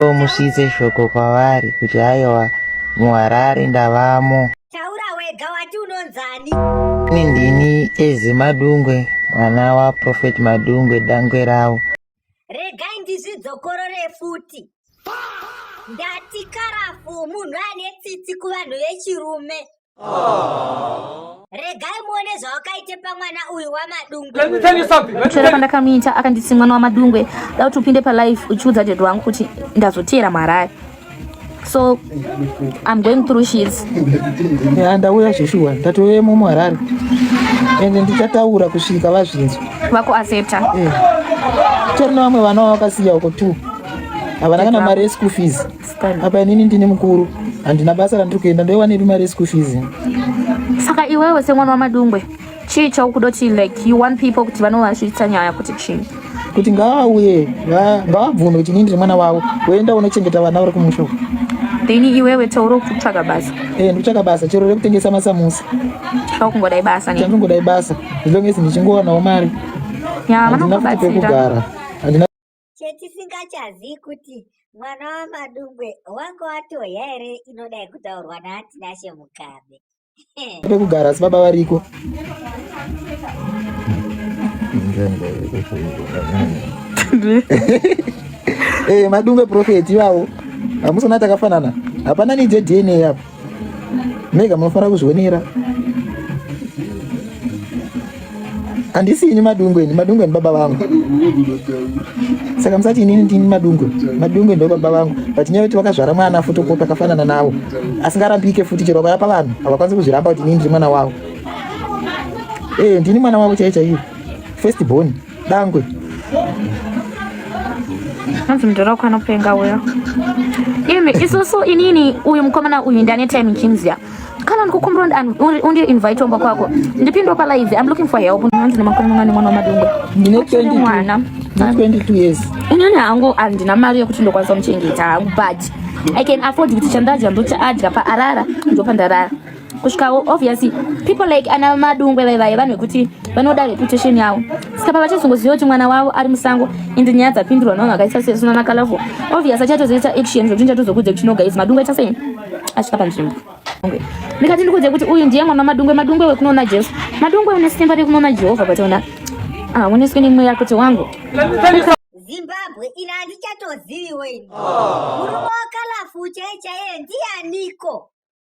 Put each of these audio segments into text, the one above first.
Ko musvitse shoko kwavari kuti haiwa muHarare ndavamo. Taura wega wati unonzani. Ini ndini Eze Madungwe mwana waProphet Madungwe dangwe rawo. Regai ndizvidzokorore futi. Ndati karafu munhu ane tsitsi kuvanhu vechirume. regai muone zvawakaite pamwana uyu wamadungwechora pandakamuita akanditi mwana wamadungwe da kuti upinde palife uchiudza dad wangu kuti ndazoteera mharare so i'm going through shits ya ndauya zveshuwa ndatouya mumu harare ende ndichataura kusvika vazvinzwa vakuaccepta eh. tori nevamwe vana vavakasiya uko two havana kana mari yeschool fees apa inini ndini mukuru handina basa randiri kuenda ndoiwanepi mari yeschool fees saka iwewe semwana wamadungwe chii chaukuda kuti like you want people kuti vanovazviitsa nyaya kuti chii kuti ngavauye ngavabvume kuti inini ndiri mwana wavo woenda unochengeta vana vari kumusha then iwewe taura kuti kutsvaga basa e eh, ndikutsvaga basa chero rekutengesa masamusa chakungodai basa chandingodai basa as long as ndichingowanawo mari yeah, vanokubatsira pekugara Chetisingachazivi kuti mwana waMadungwe wanga watoya here inoda yekutaurwa naTinashe Mugabe. Pekugara asi baba variko. Eh, Madungwe prophet iwawo. Hamusona takafanana. Hapana need DNA apo. mega munofanira kuzvionera handisi ini madungwe ini madungwe ndibaba vangu saka musati inini ndini madungwe madungwe ndobaba vangu but nyaya yekuti vakazvara mwana futi uko takafanana navo asingarambike futi chero vakayapa vanhu havakwanisi kuzviramba kuti inini ndiri mwana wavo ee eh, ndini mwana wavo chaiye chaiye first born Dangwe. hanzi mudhara wako anopenga uyo imi isusu inini uyu mukomana uyu ndane time chimziya kana ndikukumbira undi invite omba kwako ndipindwa palive im looking for help hanzi nemakore mangani mwana wamadungwe ndine mwana 22 years inini hangu handina mari yekuti ndokwanisa muchengeta hangu but i can afford kuti chandadya ndochaadya paarara ndopandarara kusvikawo obviously people like ana madungwe vai vaye vanhu vekuti vanoda reputation yavo saka pavachazongoziva kuti mwana wavo ari musango ende nyaya dzapindurwa navanhu vakaisa sesuna makalafo obvious achatozoita action zvekuti nichatozokudze kuti no guys madungwe aita sei asvika panzvimbo ndikati ndikudze kuti uyu ndiye mwana madungwe madungwe wekunoona jesu madungwe une simba rekunoona jehovha pationa ah, uneswe nemweya kuti wangu zimbabwe ina handichatoziviwo ini murume wakalafu chaiye chaiye ndiyaniko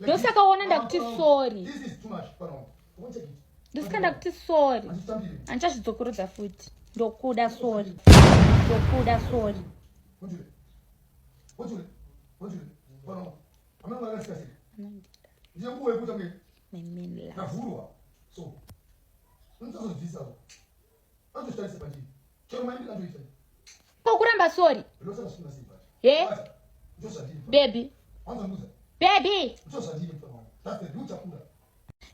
ndosaka ona ndakuti sorry ndosaka ndakuti sorry andichazvidzokorodza futi ndokuda sorry ndokuda sorry My main love. kokuramba sori he bebi bebi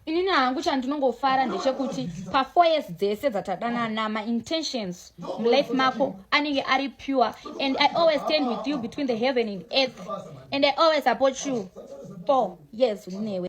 inini hangu chandinongofara ndechekuti pafour years dzese dzatadanana maintentions mulife mako anenge ari pure and i always stand with you between the heaven and earth and i always support you four years unewe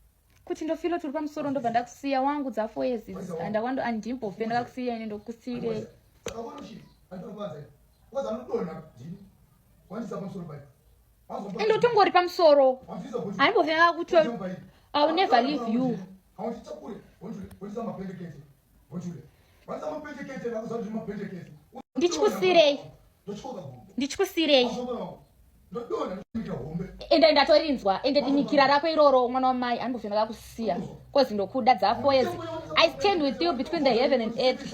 kuti ndofilo turi pamusoro ndobva ndakusiya wangu dzafoyezi andakwando andimbofe ndakakusiya ini ndokusiyirei ende utongori pamusoro handimbofe ndakakuti iwill never leave you ndichikusiirei ndichikusiirei ende ndatorinzwa ende dimikira rako iroro mwana wamai anobvena kakusiya kozi ndokuda dzako ezi i stand with you between the heaven and earth